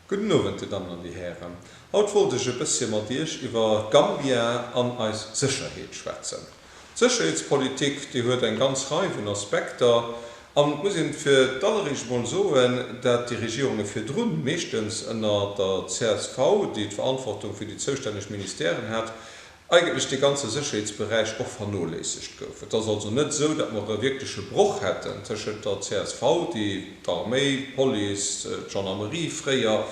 Gudden Owend, Dir Dammen an Dir Hären. Haut wollt ech e bëssche mat Iech iwwer Gambia an eis Sécherheet schwätzen. D'Sécherheetspolitik, déi huet eng ganz Rei vun Aspekter. An et muss een fir d'alleréischt emol soen, dat déi Regierunge virdrun, meeschtens ënner der csv, déi d'Verantwortung fir déi zoustänneg Ministèren hat, eigentlech dee ganze Sécherheetsberäich och vernoléissegt gouf. Et ass also net esou, datt mer e wierkleche Broch hätten tëschent der csv, déi d'Arméi, d'Police, d'Gendarmerie fréier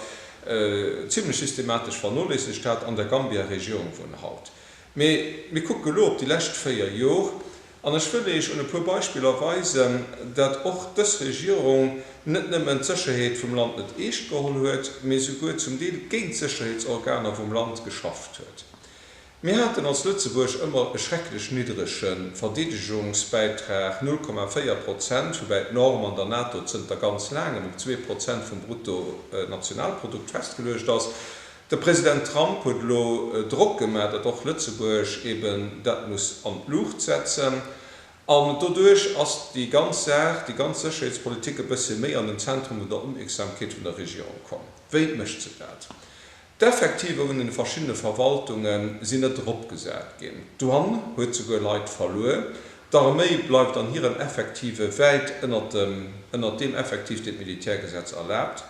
zimlech systematesch vernoléissegt hat, an der Gambia-Regierung vun haut. Mee mir kucke elo op déi lescht véier Jor, an ech wëll Iech un e puer Beispiller weisen, datt och dës Regierung net nëmmen d'Sécherheet vum Land net eescht geholl huet, mee souguer zum Deel géint d'Sécherheetsorganer vum Land geschafft huet. Mir haten als Lëtzebuerg ëmmer e schrecklech niddrege Verdeedegungsbäitrag, 0,4 Prozent, woubäi d'Norm an der NATO zënter ganz laangem op zwee Prozent vum Bruttonationalprodukt festgeluecht ass. De President Trump huet elo Drock gemaach, datt och Lëtzebuerg eben dat muss an d'Luucht setzen. An doduerch ass déi ganz Saach, déi ganz Sécherheetspolitik e bëssche méi an den Zentrum vun der Opmierksamkeet vun der Regierung komm. Wéi mécht se dat? D'Effektiver vun den verschiddene Verwaltunge sinn net eropgesat ginn. D'Douane huet souguer Leit verluer. D'Arméi bleift an hiren Effektive wäit ënnert dem ënnert deem Effektiv, deen d'Militärgesetz erlaabt.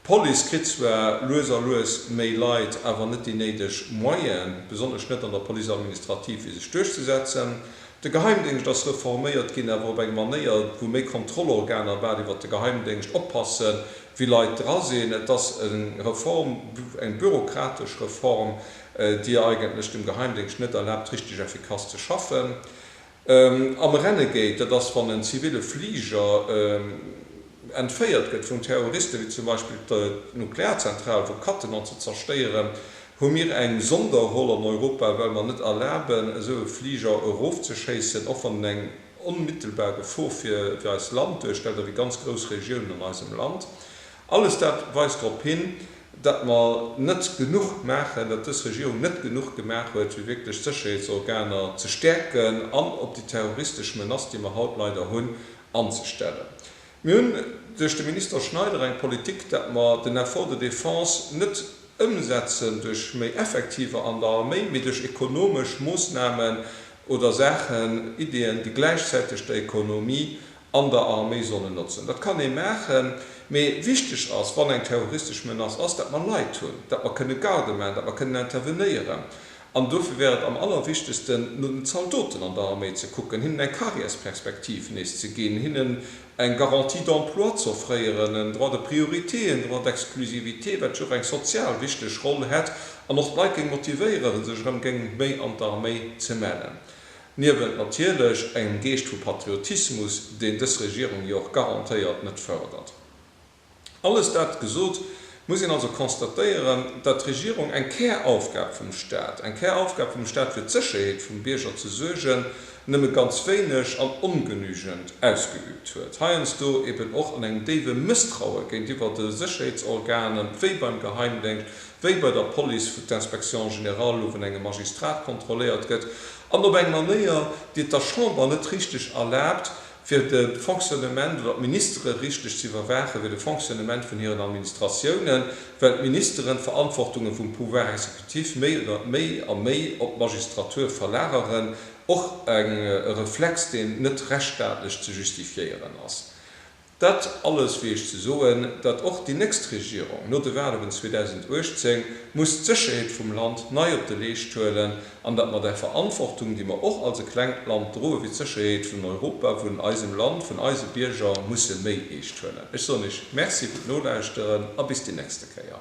D'Police kritt zwar lues a lues méi Leit, awer net déi néideg Moyene, besonnesch net an der Police administrative, fir sech duerchzesetzen. De Geheimdéngscht ass reforméiert ginn, awer op eng Manéier, wou méi Kontrollorganer bal iwwert de Geheimdéngscht oppasse wéi Leit dra sinn. Et ass eng Reform, eng bürokratesch Reform, déi et eigentlech dem Geheimdéngscht net erlaabt, richteg effikass ze schaffen. Am Renegade, dat ass, wann en zivile Fliger entféiert gëtt vun Terroristen, wéi zum Beispill d'Nuklearzentral, wou Cattenom ze zerstéieren, Hu mir eng Sonderroll an Europa, well mer net erlaben, esou e Fliger erofzeschéissen, och wann en eng onmittelbar Gefor fir eist Land duerstellt a fir ganz grouss Regiounen an eisem Land? Alles dat weist drop hin, datt mer net genuch maachen, datt dës Regierung net genuch gemaach huet, fir wierklech d'Sécherheetsorganer ze stäerken an op déi terroristesch Menace, déi mer haut leider hunn, anzestellen. Mir hunn duerch de Minister Schneider eng Politik, dat mer den Effort de défense net ëmsetzen duerch méi Effektiver an der Arméi, mee duerch ekonomesch Moosnamen oder Saachen, Ideeën, déi gläichzäiteg der Ekonomie an der Arméi sollen notzen. Dat kann ee maachen, mee wichteg ass, wann eng terroristesch Menace ass, dat mer Leit hunn, dat mer kënne Garde maachen, dat mer kënnen intervenéieren. An dofir wär et am allerwichtegsten, no den Zaldoten an der Arméi ze kucken, hinnen eng Karriärsperspektiv nees ze ginn, hinnen eng Garantie d'emploi z'offréieren, en Droit de priorité, en Droit d'exclusivité, wat jo och eng sozial wichteg Roll hätt an och d'Leit géing motivéieren, sech erëm géing méi an d'Arméi ze mellen. Niewent natierlech engem Geescht vu Patriotismus, deen dës Regierung jo och garantéiert net fërdert. Alles dat gesot, muss een also constatéieren, datt d'Regierung eng Käraufgab vum Stat, eng Käraufgab vum Stat fir d'Sécherheet vum Bierger ze suergen, nëmme ganz wéineg an ongenügend ausgeübt huet. Heiansdo eben och an engem déiwe Mësstraue géintiwwer de Sécherheetsorganen, wéi beim Geheimdéngscht, wéi bei der Police, wou d'Inspection générale lo vun engem Magistrat kontrolléiert gëtt an op eng Manéier, déi et der Chamber net richteg erlaabt, Fir de Fonctionnement oder d'Ministere richteg ze iwwerwaachen, fir de Fonctionnement vun hiren Administratiounen, well d'Ministeren d'Verantwortunge vum Pouvoir exécutif méi oder méi a méi op d'Magistratur verlageren, och e Reflex, deen net rechtsstaatlech ze justifiéieren ass. Dat alles wier ech ze soen, datt och déi nächst Regierung no de Wahlen 2018 muss d'Sécherheet vum Land nei op de Leescht huelen, an dat mat eng Verantwortung, déi mer och als e klengt Land droen, fir d'Sécherheet vun Europa, vun eisem Land, vun eise Bierger musse méi eescht huelen. Ech soen Iech Merci fir d'Nolauschteren a bis déi nächste Kéier.